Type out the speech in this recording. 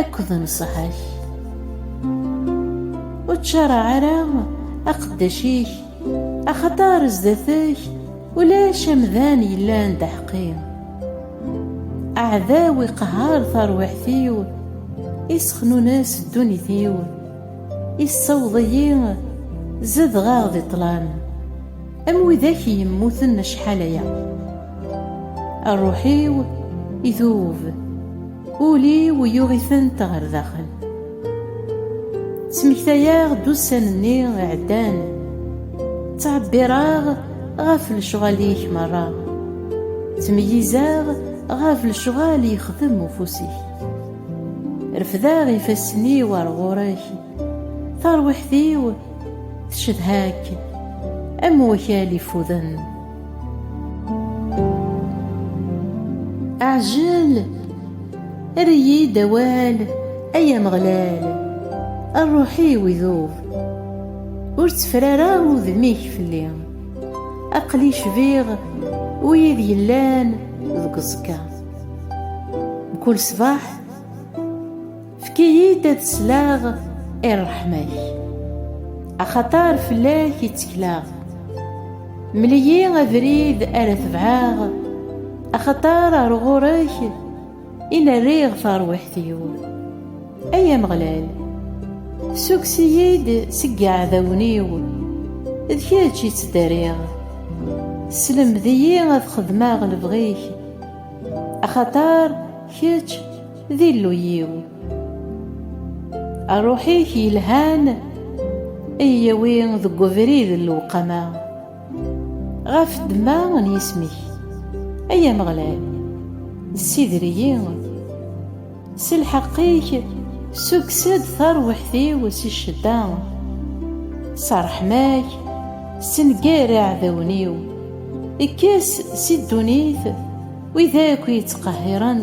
akked nnṣaḥa-k. Ur ttcaraɛ ara aqeddac-ik, axaṭer zdat-k ulac amdan yellan d aḥeqqi. Aɛdaw iqehher tarwiḥt-iw, isexnunes ddunit-iw, issaweḍ-iyi zedɣeɣ di ṭṭlam, am widak yemmuten acḥal aya. Rruḥ-iw idub. Ul-iw yuɣ-itent ɣer daxel. Ttmektayeɣ-d ussan-nni iɛeddan. Ttɛebbireɣ ɣef lecɣal-ik merra. Ttmeyyizeɣ ɣef lecɣal yexdem ufus-ik. Refdeɣ ifassen-iw ar ɣur-k. Tarwiḥt-iw tcedha-k am wakal ifuden. Ɛjel! Err-iyi-d awal, ay Ameɣlal! Rruḥ-iw idub. Ur tteffer ara udem-ik fell-i. Aql-i cbiɣ wid yellan deg uẓekka. Mkul ṣṣbeḥ. Efk-iyi-d ad sleɣ i ṛṛeḥma-k, axaṭer fell-ak i ttekleɣ. Mel-iyi abrid ara tebɛeɣ, axaṭer ɣer ɣur-k i n-rriɣ tarwiḥt-iw. Ay Ameɣlal, ssukkes-iyi-d seg yiɛdawen-iw, d kečč i ttdariɣ. Sselmed-iyi ad xedmeɣ lebɣi-k, axaṭer kečč D Illu-yiw. Ṛṛuḥ-ik yelhan iyi-yawi deg webrid n lewqama, ɣef ddemma n yisem-ik. Ay Ameɣlal, ssider-iyi. S lḥeqq-ik, ssukkes-d tarwiḥt-iw si ccedda. S ṛṛeḥma-k, ssenger iɛdawen-iw. Kkes si ddunit wid akk yettqehhiren.